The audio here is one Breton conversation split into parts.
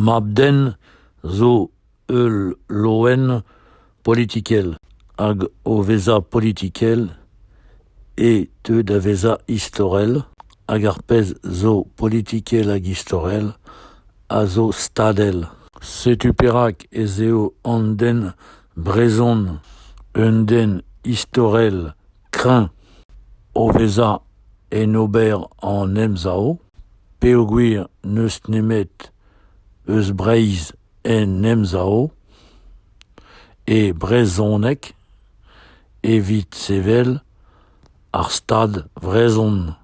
Mab-den zo ul loen politikel hag o vezañ politikel e teu da vezañ istorel hag ar pezh zo politikel hag istorel a zo stadel. Setu perak ez eo an den brezhon un den istorel kreñv o vezañ en ober an emsav. peogwir n'eus nemet eus Breizh en Emsav e brezhoneg evit sevel ar Stad vrezhon.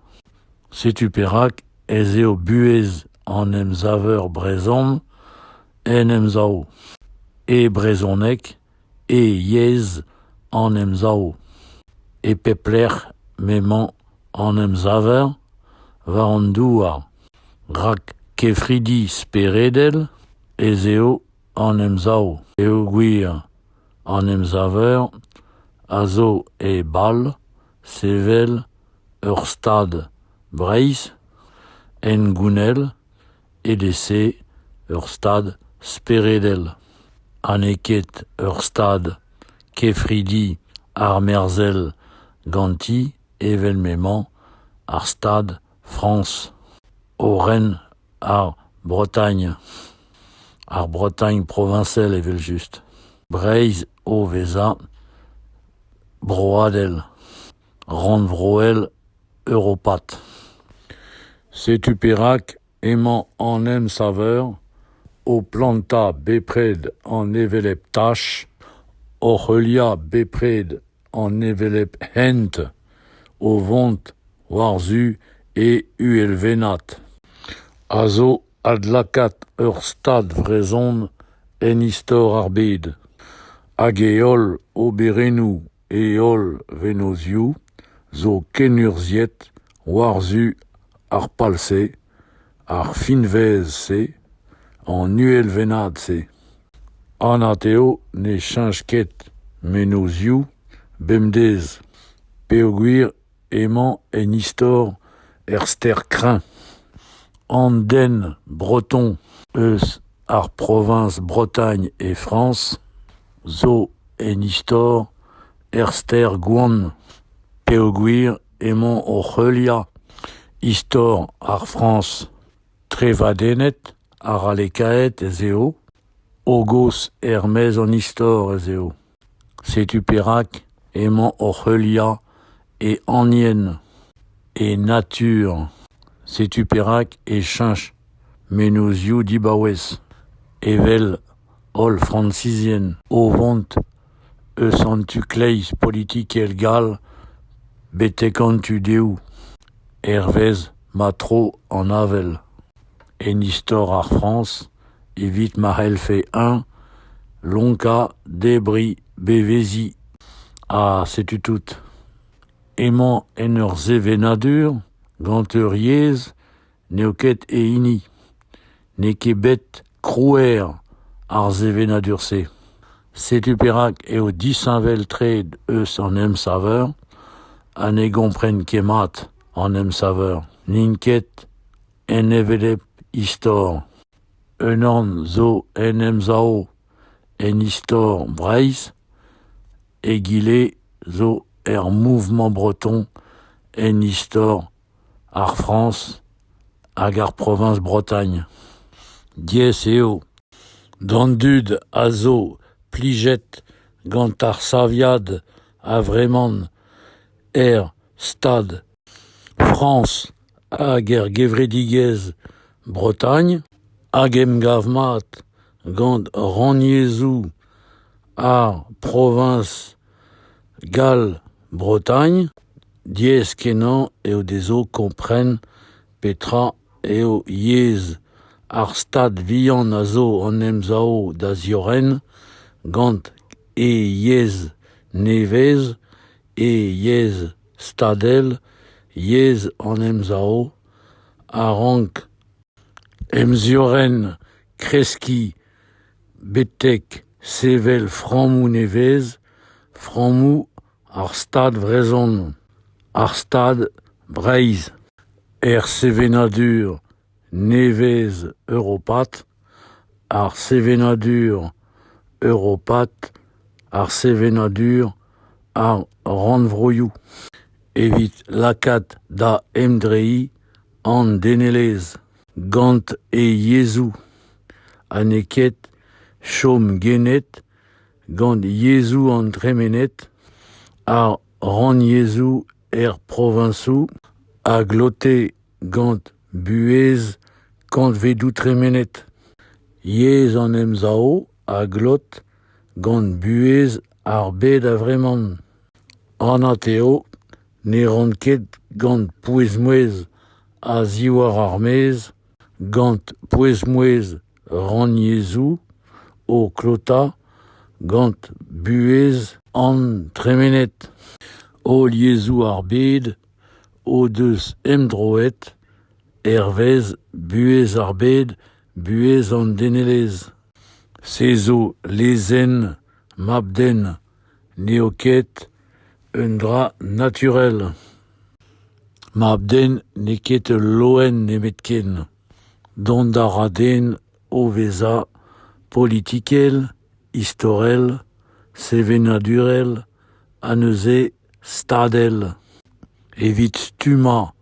Setu perak ez eo buhez an emsaver brezhon en Emsav, e brezhoneg E yezh an Emsav, e pep lec'h m'emañ an emsaver, war an douar, rak kefridi speredel ez eo an Emsav peogwir an emsaver a zo e bal sevel ur Stad Breizh hengounel Evel-se, ur stad speredel ha n'eo ket ur stad kefridi armerzhel ganti evel m'emañ ar Stad Frañs o ren ar Bretagne, ar Bretagne proviñsel evel-just, Breizh o vezañ broadel. rannvroel europat. Setu perak emañ an emsaver o plantañ bepred an hevelep tach, oc'h heuliañ bepred an hevelep hent o vont war-zu e uhelvennad, a zo adlakaat ur stad vrezhon en istor ar bed, hag e holl oberennoù E holl vennozhioù zo kenurzhiet war-zu ar pal-se, ar finvez-se, an uhelvennad-se. Anat eo ne cheñch ket mennozhioù bemdez peogwir Emañ en istor er stêr Crain, an den breton eus ar proviñs Bretagne e Frañs, zo en istor er stêr Gwan peogwir emañ oc'h heuliañ istor ar Frañs. Trevadennet ha ralekaet ez eo, hogos er-maez an istor ez eo. Setu perak emañ oc'h heuliañ e anien, e natur, setu perak e cheñch mennozhioù dibaouez, evel holl Frañsizien o vont eus an tu-kleiz politikel gall betek an tu-dehoù, hervez ma tro an avel. En istor ar Frañs evit ma c'hellfe-eñ lonkañ, debriñ, beveziñ. Ha setu tout. Emañ en ur sevenadur gant ur yezh n'eo ket e hini. N'eo ket bet krouer ar sevenadur-se. Setu perak eo disheñvel-tre eus an emsaver ha ne gompren ket mat an emsaver. N'int ket. En hevelep istor, unan zo en Emsav en istor Breizh, egile zo er mouvement breton en istor ar Frañs hag ar proviñs Bretagne. Diaes eo d'an dud a zo plijet gant ar saviad a-vreman er stad Frañs hag er gevredigezh Bretagne hag emgav mat gant rannyezhoù ar proviñs Gall-Bretagne diaes-kenañ eo dezho kompren petra eo yezh ar stad vihan a zo an emsav da ziorren gant e yezh nevez, e yezh stadel, yezh an emsav, a rank emziorren, kreskiñ betek sevel frammoù nevez, frammoù ar Stad vrezhon, ar Stad Breizh, er sevenadur nevez europat, ar sevenadur europat, ar sevenadur, ar rannvroioù evit lakaat da emdreiñ an denelezh gant e yezhoù ha n'eo ket chom gennet gant yezhoù an dremened, ar rannyezhoù er proviñsoù a glote gant buhez kantvedoù tremenet, yezh an Emsav a glot gant buhez ar bed a-vreman. Anat eo ne ran ket gant pouez-mouezh a-ziwar ar maez, gant pouez-mouezh rannyezhoù o klotañ gant buhez an tremened. Holl yezhoù ar bed o deus emdroet hervez buhez ar bed, buhez an denelezh. Se zo lezenn mab-den, n'eo ket un dra naturel. Mab-den n'eo ket ul loen nemetken. Dont a ra den o vezañ politikel, istorel, sevenadurel ha neuze stadel evit stummañ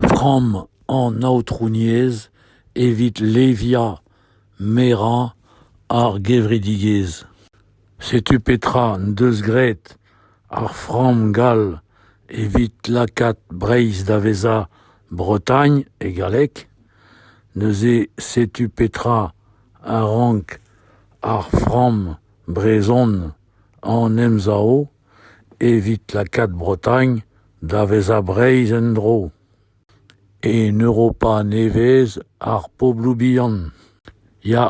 framm an aotrouniezh evit leviañ merañ ar gevredigezh. Setu petra en deus graet ar framm gall evit lakaat Breizh da vezañ Bretagne e galleg. Neuze setu petra a rank ar framm brezhon an emsav. evit lakaat Bretagne da vezañ Breizh en-dro, en Europa nevez ar pobloù bihan. Ya,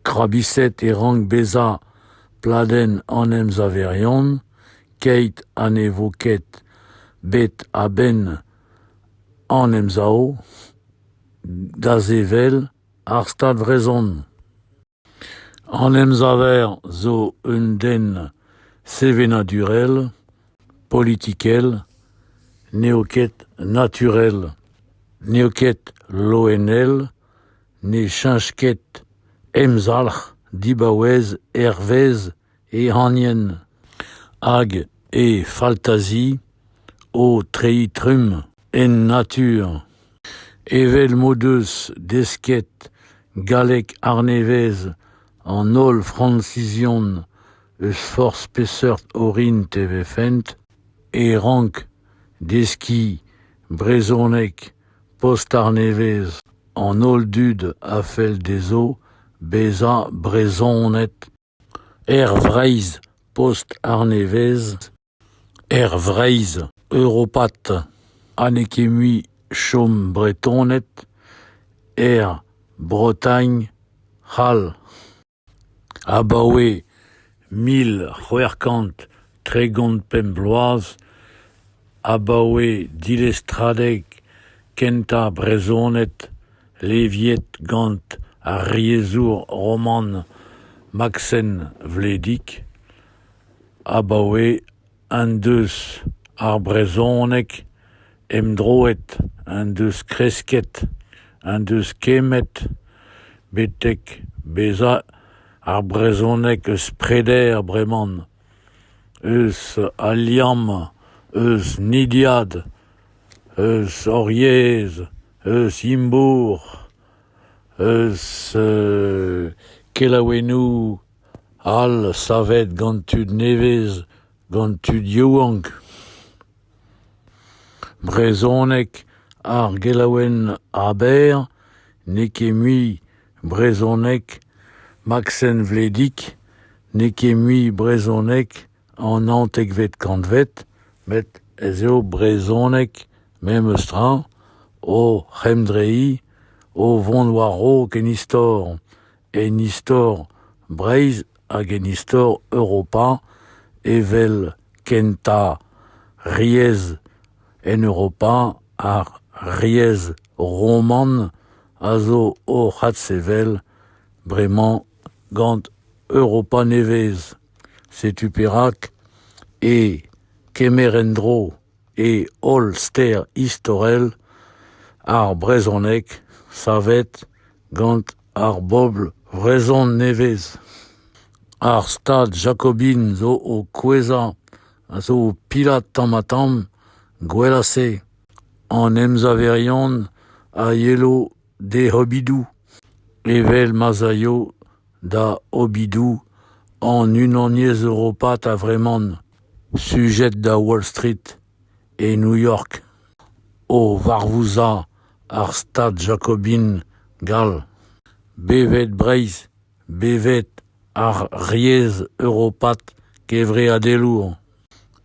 krabiset e rank bezañ pladenn an emsaverion, keit ha ne vo ket bet a-benn an Emsav da sevel ar Stad vrezhon. An emsaver zo un den sevenadurel, politikel, n'eo ket naturel, n'eo ket loenel, ne cheñch ket emzalc'h dibaouez hervez ehanien hag he faltazi o treiñ trumm en natur, evel m'o deus desket galleg arnevez an holl Fransizion eus forzh peseurt orin e vefent, e rank deskiñ brezhoneg post-arnevez an holl dud a fell dezho bezañ Brezhoned Aer Vreizh, post arnevez Aer Vreizh, europat ha n'eo ket mui chom Bretoned er Bretagne c'hall. Abaoe mil c'hwec'h kant tregont pemp bloaz, abaoe dilestradeg kentañ brezhoned Leviet gant ar yezhour roman Maksen Vledig abaoe en deus ar brezhoneg emdroet en deus kresket en deus kemmet betek bezañ ar brezhoneg eus preder breman eus al liamm eus nidiad eus hor yezh eus Imbourc'h, eus kelaouennoù all savet gant tud nevez, gant tud yaouank. Brezhoneg, ar gelaouenn Aber n'eo ket mui brezhoneg, Maksen Vledig n'eo ket mui brezhoneg. an naontekvet kantved, met ez eo brezhoneg memes tra o c'hemdreiñ, o vont war-raok en istor, en istor Breizh hag en istor Europa evel kentañ riez en Europa ar riez roman a zo o adsevel bremañ gant Europa nevez. Setu perak e kemer en-dro e holl ster istorel ar brezhoneg savet gant ar bobl vrezhon nevez. Ar stad jakobin zo o kouezhañ a zo o pilat tamm-ha-tamm gwella-se. An emsaverion a yelo d'e c'hobidoù, evel ma'z aio da obidoù an Unaniezh europat a-vreman, sujet da Wall Street e New York, o varvouzañ ar Stad jakobin gall, bevet Breizh, bevet ar yezh europat kevreadelour.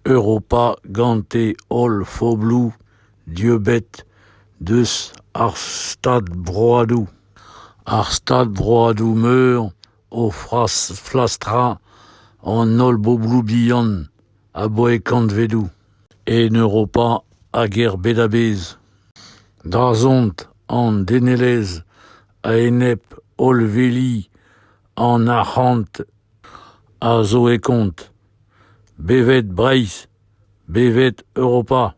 Europa gante holl fobloù dieubet deus ar stadbroadoù, ar stadbroadoù meur o flastrañ an holl bobloù bihan aboae kantvedoù en Europa hag er bed a-bezh. Dazont an denelezh a-enep hollveli an arc'hant a zo e kont. Bevet Breizh, bevet Europa,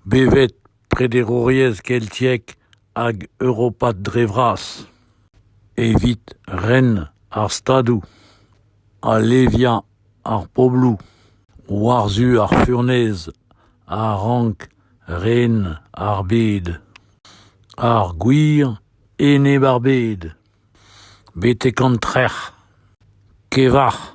bevet prederouriezh keltiek hag europat dre vras, evit ren ar Stadoù, aleviañ ar pobloù war-zu ar furnez a rank ren ar bed, ar gwir enep ar bed. betek an trec'h, kevac'h.